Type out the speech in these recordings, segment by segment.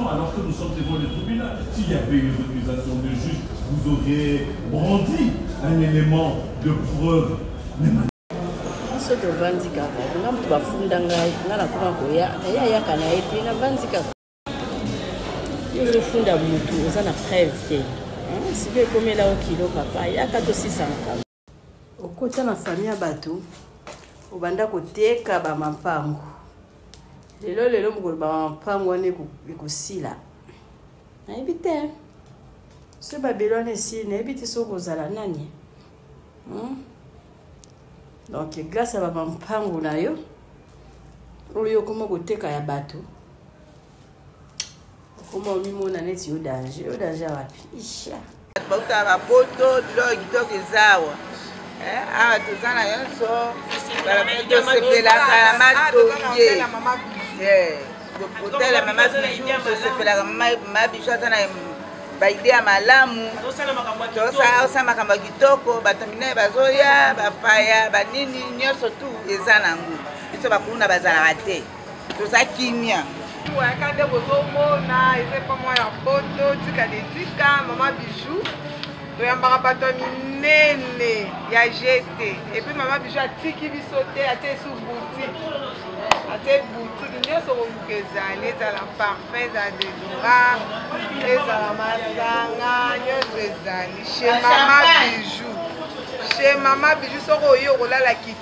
Alors que nous sommes devant le tribunal, s'il y avait une récusation de juge, vous auriez brandi un élément de preuve. biso tovandi kaka nga moto bafunda ngai nga nakoma koya naye ayaka na ye te navandi kaka yo ozofunda motu oza na preuve te sikoyo ekomela okilo papa yaka tosisa makambo okota na fami ya bato obanda koteka bamampango lelo lelo mokolo bamampango wana ekosila nayebi te so babelo wana esili nayebi te soki kozala nani hmm? donc grâce ya bamampango na yo oyo okoma koteka ya bato okoma omimona neti yo danger yo danger wapi isha bauta bapoto drogue kitoko eza awa eh, awa toza na nyonso tosepelaka na matonge kotala mama bijou tosepelaka mama bijou aza na baide ya malamu tosala makambo ya kitoko bato minene bazoya bapaya banini nyonso tu eza nango biso bakuluna bazalaka te toza kimia oyaka nde bozomona eza epa mwa ya poto tika de tika mama bijou toyambaka bato ya minene ya jete epuis mama bijou atiki biso te atie esu boutique atie boutique nyonso koluka ezali ezala parfum ezala dedora ezala masanga nyonso ezali chez mama bijou chez mama bijou soki oye okolala kiti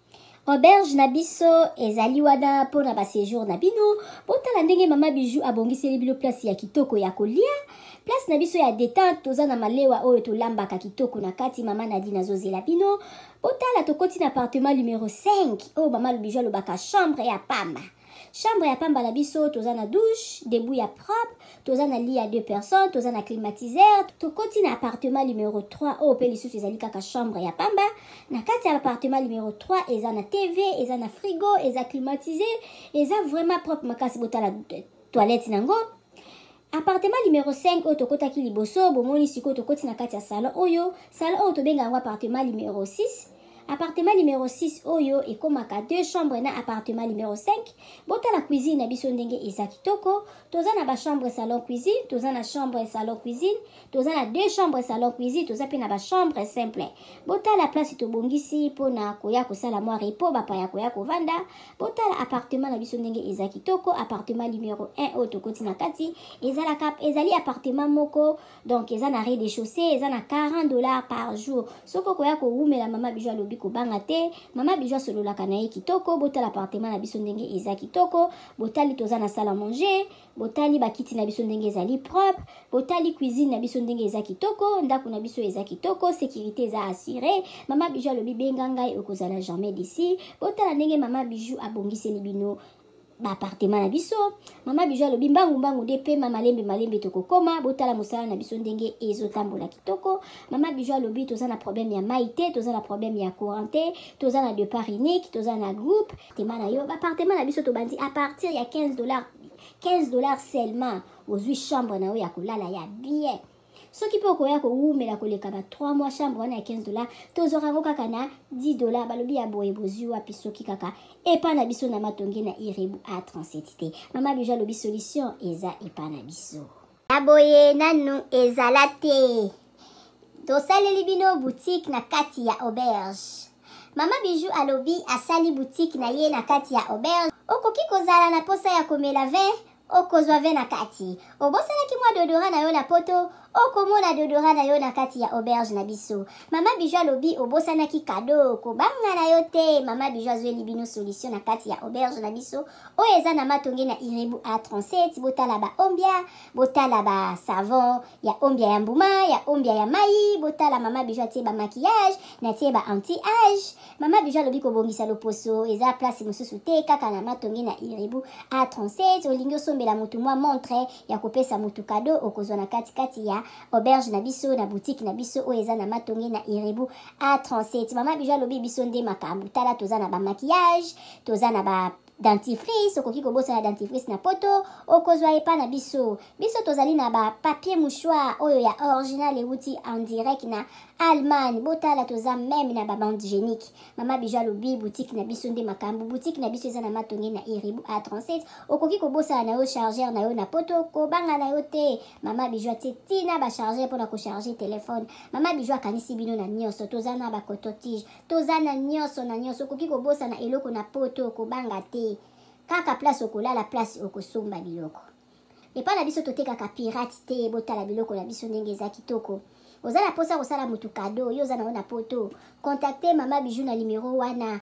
Auberge na biso ezali wana mpo na basejour na bino. Botala ndenge mama Bijou abongiseli bino place ya kitoko ya kolia. Place na biso ya detente, toza na malewa oyo tolambaka kitoko na kati. Mama Nadine azozela bino. Botala tokoti na appartement numero 5 oyo mama Bijou alobaka chambre ya pamba. Chambre ya pamba na biso toza na douche, debout ya propre, toza na lit ya deux personnes, toza na climatiseur, tokoti na appartement numero 3 oyo mpe lisusu ezali kaka chambre ya pamba. Na kati ya appartement numero 3 eza na TV, eza na frigo, eza climatisé, eza vraiment propre makasi botala toilette nango. Appartement numero 5 oyo tokotaki liboso, bomoni sikoyo tokoti na kati ya salon oyo, salon oyo tobenga yango appartement numero 6. Appartement numero 6 oyo ekomaka deux chambres na appartement numero 5. Botala cuisine na biso ndenge eza kitoko, toza na ba chambres salon cuisine, toza na chambre salon cuisine, toza na deux chambres salon cuisine toza mpe na ba chambre simple botala place tobongisi mpo na koya kosala mwa repo bapaya koya kovanda botala appartement na biso ndenge eza kitoko appartement numero 1 oyo tokoti na kati ezalaka ezali appartement moko donc eza na rez de chaussée eza na 40 dollars par jour soki okoya kowumela mama bijo alobi kobanga te mama bijo asololaka na ye kitoko botala appartement na biso ndenge eza kitoko botali toza na sala manger botali bakiti na biso ndenge ezali propre botali cuisine na biso ndenge eza kitoko ndako na biso eza kitoko sécurité eza assure mama bijou alobi benga ngai okozala jamais d'ici botala ndenge mama bijou abongiseli bino baapartema na biso mama bijou alobi mbangu mbangu nde pema malembe malembe tokokoma botala mosala na biso ndenge ezotambola kitoko mama bijou alobi toza na problème ya mai te toza na problème ya courant te toza na depart unique toza na groupe appartement na yo ba appartement na biso tobandi à partir ya 15 dollars 15 dollars seulement ozwi chambre na yo ya kolala ya bien soki mpe okoya kowumela koleka ba 3 mois chambre wana ya 15 dollars tozwaka yango kaka na 10 dollars balobi ya boye bozwi wapi soki kaka epa na biso na matonge na irebu a 37 te mama bijo alobi solution eza epa na biso ya boye nanu ezala te tosaleli bino boutique na kati ya auberge mama bijou alobi asali boutique na ye na kati ya auberge okoki kozala na posa ya komela vin okozwa vin na kati obosanaki mwa dodora na yo na poto okomona dodora na yo na kati ya auberge na biso mama bijou alobi obosanaki kado kobanga na yo te mama bijou azweli bino solution na kati ya auberge na biso oyo eza na matonge na irebu a 37 botala ba ombia botala ba savon ya ombia ya mbuma ya ombia ya mai botala mama bijo atie ba maquillage natie ba anti age mama bijo alobi kobongisa loposo eza place mosusu te kaka na matonge na irebu a 37 olingi osombela motu mwa montre ya kopesa motu kado okozwa na katikati ya auberge na biso na boutique na biso oyo eza na matonge na irebu a 37 mama bijo alobi biso nde makambo tala toza na ba maquillage toza na ba dentifrice okoki kobosana dentifrice na poto okozwa epa na biso biso tozali na ba papier mouchoir oyo ya original ewuti en direct na allemagne botala toza meme na babande génique mama bijo alobi boutique na biso nde makambo boutique na biso eza na matonge na iribu a 37 okoki kobosana na yo chargeur na yo na poto kobanga na yo te mama bijo atie tina bachargeur mpona kocharge telefone mama bijo akanisi bino na nyonso toza na bacototige toza na nyonso na nyonso okoki kobosana eloko na poto okobanga te kaka place okolala place okosomba biloko epai na biso totekaka pirate te botala biloko na biso ndenge eza kitoko oza na mposa kosala motu kado yo oza nango na poto kontakte mama bijou na nimero wana